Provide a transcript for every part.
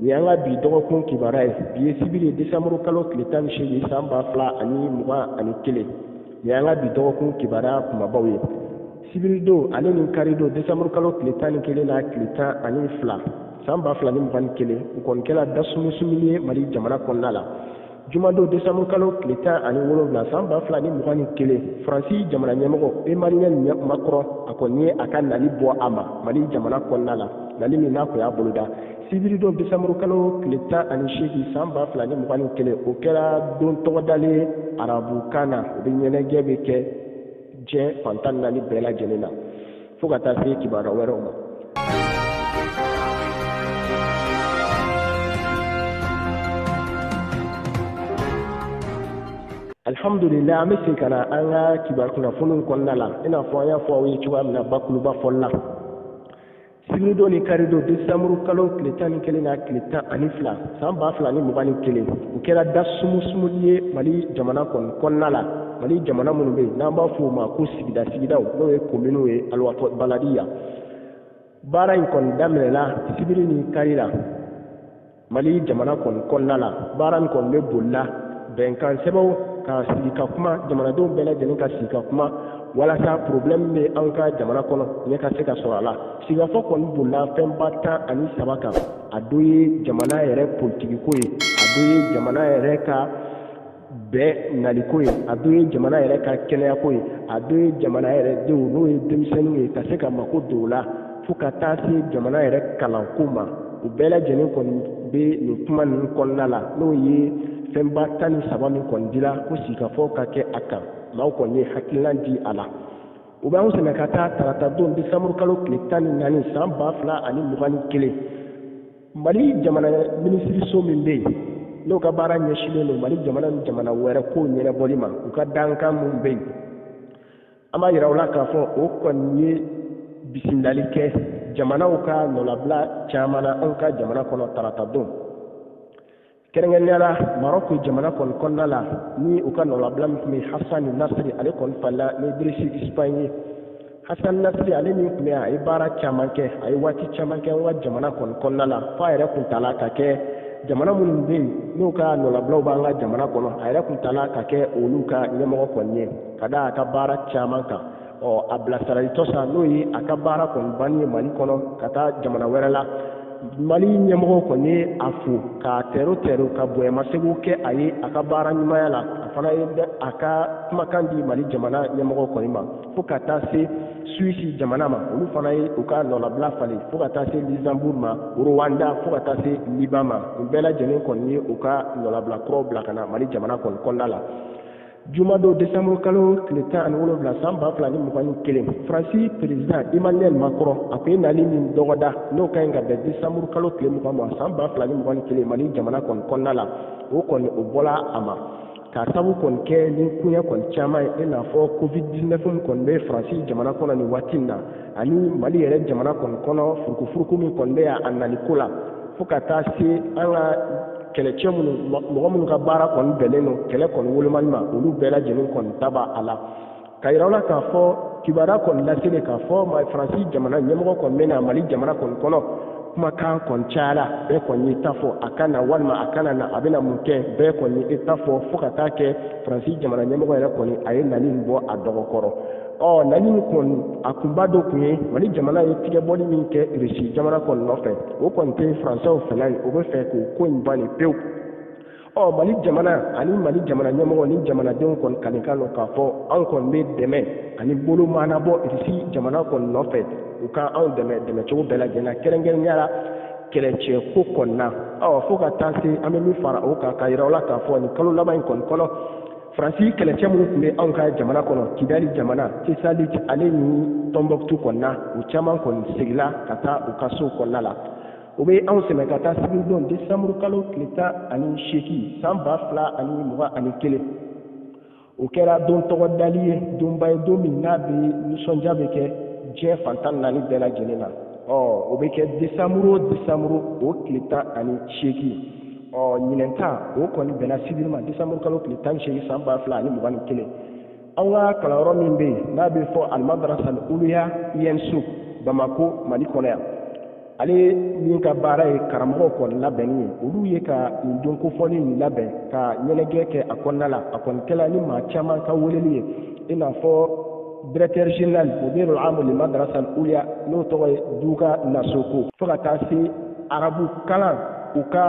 nin y'an ka bi dɔgɔkun kibaruya ye bi ye sibiri ye desanburu kalo tile tan ni seegin san ba fila ani mugan ani kelen nin y'an ka bi dɔgɔkun kibaruya kunbabaw ye sibiridon ale ni karidon desanburu kalo tile tan ni kelen na tile tan ani fila san ba fila ni mugan ni kelen u kɔni kɛra dasumusumuni ye mali jamana kɔnɔna la Jumadon desanburu kalo tile tan ani wolowula san ba fila ni mugan ni kelen faransi jamana ɲɛmɔgɔ Emmanuel Macron a kɔni ye a ka nali bɔ a ma mali jamana kɔnɔna la nali min n'a kun y'a boloda sibiridon desanburu kalo tile tan ani seegin san ba fila ni mugan ni kelen o kɛra don tɔgɔdalen arabukan na o bɛ ɲɛnajɛ bɛ kɛ diɲɛ fan tan naani bɛɛ lajɛlen na fo ka taa se kibaruya wɛrɛw ma alihamudulilahi an bɛ se ka na an ka kibaru kunnafoniw kɔnɔna la i n'a fɔ an y'a fɔ aw ye cogoya min na bakuruba fɔli la sibiridon ni karidon desanburu kalo tile tan ni kelen na tile tan ani fila san ba fila ni mugan ni kelen u kɛra dasumusumuli ye mali jamana kɔni kɔnɔna la mali jamana minnu bɛ yen n'an b'a fɔ o ma ko sigida sigidaw n'o ye kominiw ye aliwatɔ baladiya baara in kɔni daminɛna sibiri ni kari la mali jamana kɔni kɔnɔna la baara in kɔni bɛ bolila bɛnkan sɛbɛnw ka sigi ka kuma jamanadenw bɛɛ lajɛlen ka sigi ka kuma walasa problème bɛ an ka jamana kɔnɔ ɲɛ ka se ka sɔrɔ a la sigikafɔ kɔni bolila fɛnba tan ani saba kan a dɔ ye jamana yɛrɛ politikiko ye a dɔ ye jamana yɛrɛ ka bɛɛ naliko ye a dɔ ye jamana yɛrɛ ka kɛnɛyako ye a dɔ ye jamana yɛrɛ denw n'o ye denmisɛnninw ye ka se ka mako don o la fo ka taa se jamana yɛrɛ kalanko ma u bɛɛ lajɛlen kɔni bɛ nin kuma ninnu kɔnɔna la n'o ye fɛnba tan ni saba min kɔni dira ko sigikafɔ ka kɛ a kan maaw kɔni ye hakilina di a la o b'an sɛnɛ ka taa tarata don desanburu kalo tile tan ni naani san ba fila ani mugan ni kelen mali jamana minisiriso min bɛ yen n'o ka baara ɲɛsinlen don mali jamana ni jamana wɛrɛ kow ɲɛnabɔli ma u ka dankan min bɛ yen an b'a yira aw la k'a fɔ o kɔni ye bisimilali kɛ jamanaw ka nɔlabila caman na anw ka jamana kɔnɔ tarata don kɛrɛnkɛrɛnnenya la marɔku jamana kɔni kɔnɔna la ni u ka nɔlabila min tun bɛ hasani nasiri ale kɔni falila ni dirisi isibayɛni ye hasani nasiri ale min tun bɛ a ye baara caman kɛ a ye waati caman kɛ an ka jamana kɔni kɔnɔna la f'a yɛrɛ kun tala ka kɛ jamana minnu bɛ yen n'u ka nɔlabilaw b'an ka jamana kɔnɔ a yɛrɛ kun tala ka kɛ olu ka ɲɛmɔgɔ kɔni ye ka da a ka baara caman kan ɔ a bilasiralitɔ sa n'o ye a ka baara kɔni banni ye mali kɔnɔ ka taa jamana wɛrɛ la mali ɲɛmɔgɔ kɔni ye a fo k'a tɛro tɛro ka bonyamasegin kɛ a ye a ka baara ɲumanya la a fana ye a ka kumakan di mali jamana ɲɛmɔgɔ kɔni ma fo ka taa se suisi jamana ma olu fana ye u ka nɔlabila falen fo ka taa se luxembourg ma rwanda fo ka taa se liban ma u bɛɛ lajɛlen kɔni ye u ka nɔlabila kuraw bila ka na mali jamana kɔni kɔnɔna la juma don décembre kalo tile tan ani wolonwula san ba fila ni mugan ni kelen faransi peresidan emmanuel macron a ko e nali min dɔgɔda n'o ka ɲi ka bɛn décembre kalo tile mugan ma san ba fila ni mugan ni kelen mali jamana kɔni kɔnɔna la o kɔni o bɔla a ma k'a sabu kɔni kɛ ni koɲɛ kɔni caman ye i n'a fɔ covid 19 min kɔni bɛ faransi jamana kɔnɔ nin waati in na ani mali yɛrɛ jamana kɔni kɔnɔ furukufuruku min kɔni bɛ a nali ko la fo ka taa se an ka kɛlɛcɛ minnu mɔgɔ minnu ka baara kɔni bɛnnen don kɛlɛ kɔni wolomali ma olu bɛɛ lajɛlen kɔni ta b'a a la ka yira la k'a fɔ kibaruya kɔni laselen k'a fɔ faransi jamana ɲɛmɔgɔ kɔni bɛ na mali jamana kɔni kɔnɔ kumakan kɔni cayara bɛɛ kɔni ye ta fɔ a ka na walima a kana na a bɛna mun kɛ bɛɛ kɔni ye ta fɔ fo ka taa kɛ faransi jamana ɲɛmɔgɔ yɛrɛ kɔni a ye nali in bɔ a dɔgɔkɔrɔ ɔ nali in kɔni a kunba dɔ tun ye mali jamana ye tigɛbɔli min kɛ rusi jamana kɔni nɔfɛ o kɔni tɛ faransɛw fɛla ye o bɛ fɛ k'o ko in bali pewu ɔ mali jamana ani mali jamana ɲɛmɔgɔ ni jamanadenw kɔni kalikan don k'a fɔ anw kɔni bɛ dɛmɛ ani bolo maanabɔ rusi jamana kɔni nɔfɛ u ka anw dɛmɛ dɛmɛ cogo bɛɛ lajɛlen na kɛrɛnkɛrɛnnenya la kɛlɛcɛko kɔnɔna fo ka taa se an bɛ min fara o kan k'a yira aw la k'a fɔ nin kalo laban in kɔni kɔnɔ faransi kɛlɛcɛ minnu tun bɛ anw ka jamana kɔnɔ kidali jamana tesalit ale ni tɔnbɔkutu kɔnɔna u caman kɔni seginna ka taa u ka sow kɔnɔna la o bɛ anw sɛmɛ ka taa sibiridon desanburu kalo tile tan ani seegin san ba fila ani mugan ani kelen o kɛra don tɔgɔdalen ye donba ye don min n'a bɛ nisɔndiya bɛ kɛ diɲɛ fan tan naani bɛɛ lajɛlen na ɔ o bɛ kɛ desanburu o desanburu o tile tan ani seegin ɔ ɲinɛn ta o kɔni bɛnna sibiri ma disanburu kalo tile tan ni seegin san ba fila ani mugan ni kelen an ka kalanyɔrɔ min bɛ yen n'a bɛ fɔ almadrasa al-uluya ensup bamako mali kɔnɔ yan ale min ka baara ye karamɔgɔw kɔni labɛnni ye olu ye ka nin don kofɔlen in labɛn ka ɲɛnajɛ kɛ a kɔnɔna la a kɔni kɛla ni maa caman ka weleli ye i n'a fɔ directeur général mudir al-amu li madrasa al-uliya n'o tɔgɔ ye duga nasoko fo ka taa se arabu kalan u ka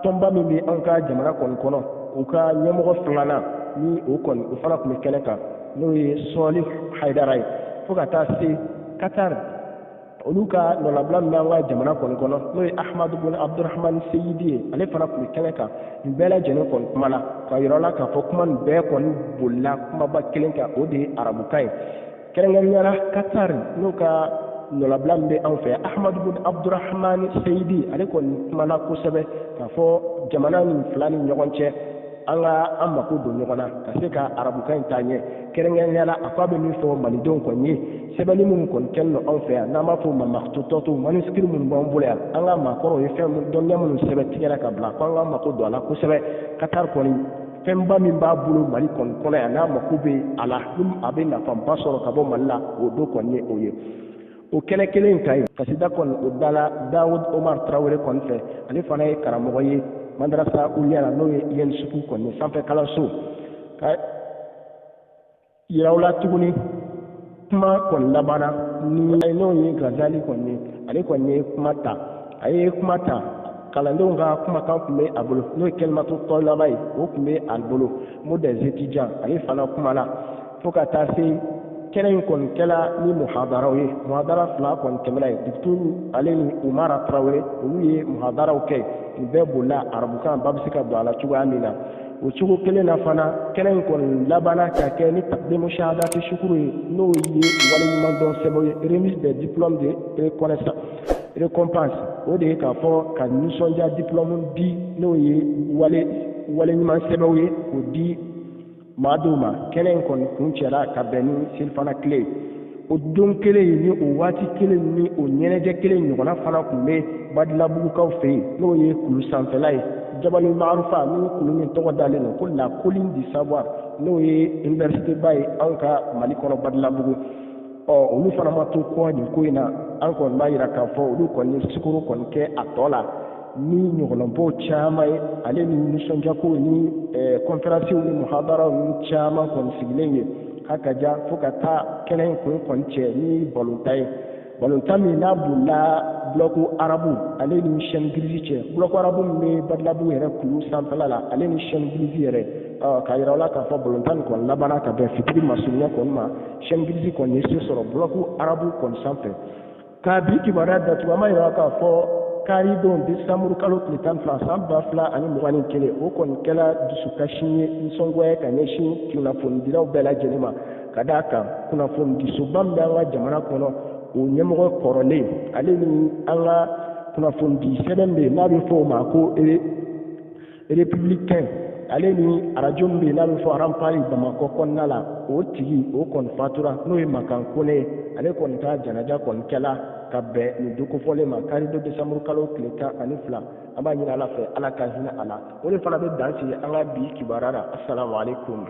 tɔnba min bɛ an ka jamana kɔni kɔnɔ u ka ɲɛmɔgɔ filanan ni o kɔni o fana tun bɛ kɛnɛ kan n'o ye sɔɔli hayidara ye fo ka taa se katari olu ka nɔnabila min bɛ an ka jamana kɔni kɔnɔ n'o ye ahmadu bin abdurahman seyidi ye ale fana tun bɛ kɛnɛ kan nin bɛɛ lajɛlen kɔni kumana k'a yira aw la k'a fɔ kuma nin bɛɛ kɔni bolila kumaba kelen kan o de ye arabukan ye kɛrɛnkɛrɛnnenya la katari n'o ka nɔnabila min bɛ anw fɛ ahmadu bin abdurahman seyidi ale kɔni kumana kosɛbɛ k'a fɔ jamana nin fila ni ɲɔgɔn cɛ an ka an mako don ɲɔgɔn na ka se ka arabukan in taa ɲɛ kɛrɛnkɛrɛnnenya la a ko a bɛ min fɔ malidenw kɔni ye sɛbɛnni minnu kɔni kɛlen don anw fɛ yan n'an b'a fɔ o ma makututatu manuscrits minnu b'an bolo yan an ka maakɔrɔw ye dɔnniya minnu sɛbɛn tigɛra ka bila ko an ka mako don a la kosɛbɛ katari kɔni fɛnba min b'a bolo mali kɔni kɔnɔ yan n'a mako bɛ a la a bɛ nafaba sɔrɔ ka bɔ mali la o dɔ kɔni ye o ye o kɛnɛ kelen in kan yen kasida kɔni o dala dawud omar tarawele kɔni fɛ ale fana ye karamɔgɔ ye madarasa uliya la n'o ye ensup kɔni sanfɛ kalanso k'a yira aw la tuguni kuma kɔni labanna ni n'o ye gazali kɔni ye ale kɔni ye kuma ta a ye kuma ta kalandenw ka kumakan tun bɛ a bolo n'o ye kalimatu talaba ye o tun bɛ a bolo mot des étudiants ale fana kumana fo ka taa se kɛnɛ in kɔni kɛla ni muhadaraw ye muhadara fila kɔni tɛmɛna ye dukuturu ale ni umara tarawele olu ye muhadaraw kɛ nin bɛɛ bolila arabukan ba bɛ se ka don a la cogoya min na o cogo kelen na fana kɛnɛ in kɔni labanna ka kɛ ni taqdimu shahadati shukuru ye n'o ye waleɲumandɔn sɛbɛn ye remise des diplômes de reconnaissance récompense o de ye k'a fɔ ka nisɔndiya diplôme di n'o ye waleɲuman sɛbɛnw ye k'o di maa dɔw ma kɛnɛ in kɔni kuncɛra ka bɛn ni selifana tile o don kelen in ni o waati kelen ni o ɲɛnajɛ kelen ɲɔgɔnna fana tun bɛ badilabugukaw fɛ yen n'o ye kulu sanfɛla ye jabali maarufa ni kulu min tɔgɔ dalen don ko la colline du savoir n'o ye iniwerisiteba ye anw ka mali kɔnɔ badilabugu ɔ olu fana ma to kɔ nin ko in na an kɔni b'a yira k'a fɔ olu kɔni ye sukoro kɔni kɛ a tɔ la ni ɲɔgɔlɔnbɔ caman ye ale ni nisɔndiyakow ni kɔnferansiw ni muhadaraw ni caman kɔni sigilen ye k'a ka ja fo ka taa kɛnɛ in kun kɔni cɛ ni balontan ye balontan min n'a bolila bulɔku arabu ale ni chaîne grise cɛ bulɔku arabu min bɛ badilabugu yɛrɛ kulu sanfɛla la ale ni chaîne grise yɛrɛ k'a yira aw la k'a fɔ balontan nin kɔni labanna ka bɛn fitiri masurunya kɔni ma chaîne grise kɔni ye se sɔrɔ bulɔku arabu kɔni sanfɛ ka bi kibaruya datugu an b'a yira k'a fɔ karidon desanburu kalo tile tan fila san ba fila ani mugan ni kelen o kɔni kɛla dusukasi ye nisɔngoya ka ɲɛsin kunnafonidilaw bɛɛ lajɛlen ma ka d'a kan kunnafonidisoba min bɛ an ka jamana kɔnɔ o ɲɛmɔgɔ kɔrɔlen ale ni an ka kunnafonidi sɛbɛn bɛ yen n'a bɛ fɔ o ma ko républicain ale ni arajo min bɛ yen n'a bɛ fɔ ranpari bamakɔ kɔnɔna la o tigi o kɔni fatura n'o ye makan kone ye ale kɔni ka janaja kɔni kɛla ka bɛn nin don kofɔlen ma kari don desanburu kalo tile tan ani fila an b'a ɲini ala fɛ ala ka hinɛ a la o de fana bɛ dan sigi an ka bi kibaruya la asalaamualeykum